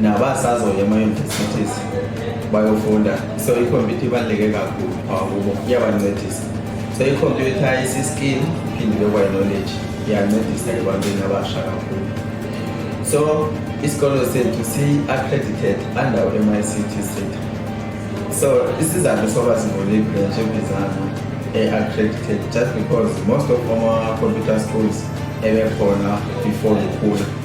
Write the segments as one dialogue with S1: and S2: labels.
S1: nabasazoya ema-universities bayofunda so ikhompyutha ibaluleke kakhulu phakubo iyabancedisa so ikhompyutha isiskill iphinde bekwayi-knowledge iyancedisa ebantwini abasha kakhulu so isikolo sethu si-accredited under u-mict sethu so isizathu soba sivule ibranch ebizana e-accredited just because most of ama-computer schools ebekhona before ngikhula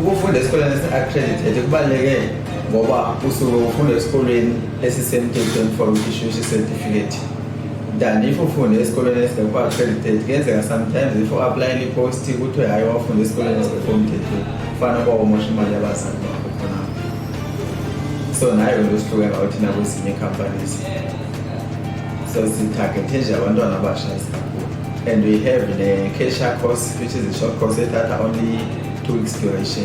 S1: Ukufunda esikoleni esi-accredited kubaluleke ngoba usuke ufunda esikolweni esisemthethweni for issushi certificate than if ufunda esikoleni esingekho accredited kuyenzeka sometimes if u-aplayela i-post kuthiwe hhayi wafunda esikoleni esingekho mthethweni kufana kwawumosha imali yabazali bakho khona so nayo nto sihluke ngawo thina kwezinye icompanies so sitargethe nje abantwana abasha esikakhulu And we have the Kesha course, which is a short course that are only two weeks duration.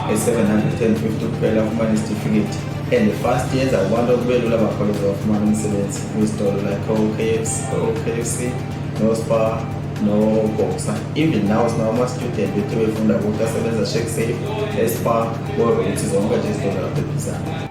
S1: A 750 kuphela ufumana isitifiketi and fast yenza abantu kube lula bakhawuleze bafumana umsebenzi kwizitolo like okfc okfc nospar noboxer even now sinawo ama-student bethu befunda kuthi asebenza shake safe espar korothi zonke nje izitolo lapho ebhizana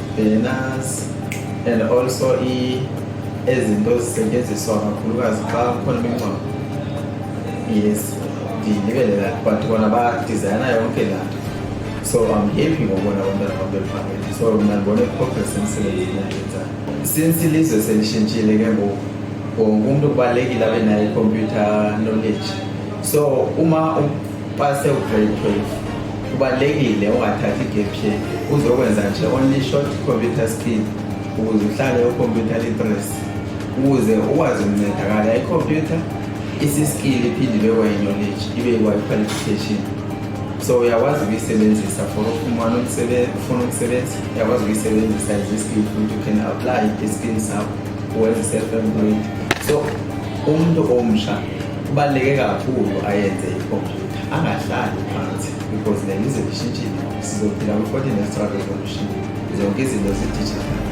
S1: Banners and also i ezinto zisetshenziswa kakhulukazi xa kukhona imingcwabo yes ndilibele la but bona badizayina yonke la so i'm happy ngobona abantwana bam bephakele so mna ndibona i-progress emsebenzini endiyenzayo since ilizwe selishintshile ke ngoku wonke umntu kubalulekile abe nayo ikhompyutha knowledge so uma Pase ugrade 12 kubalulekile ungathathi i-gap year uzokwenza nje only short computer skill ukuze uhlale ucomputer literacy ukuze ukwazi ukuncedakala ikhompyutha isiskill iphinde ibe kwayiknowledge ibe kwayi-qualification so uyakwazi ukuyisebenzisa for ufumana ufuna ukusebenza uyakwazi ukuyisebenzisa as iskill futhi you can apply iskill sakho uwenze self-employed so umuntu omsha kubaluleke kakhulu ayenze ikhompyutha angahlali phansi because le lize lishintshile sizophila kwi-fourteen extra revolution zonke izinto zidijitali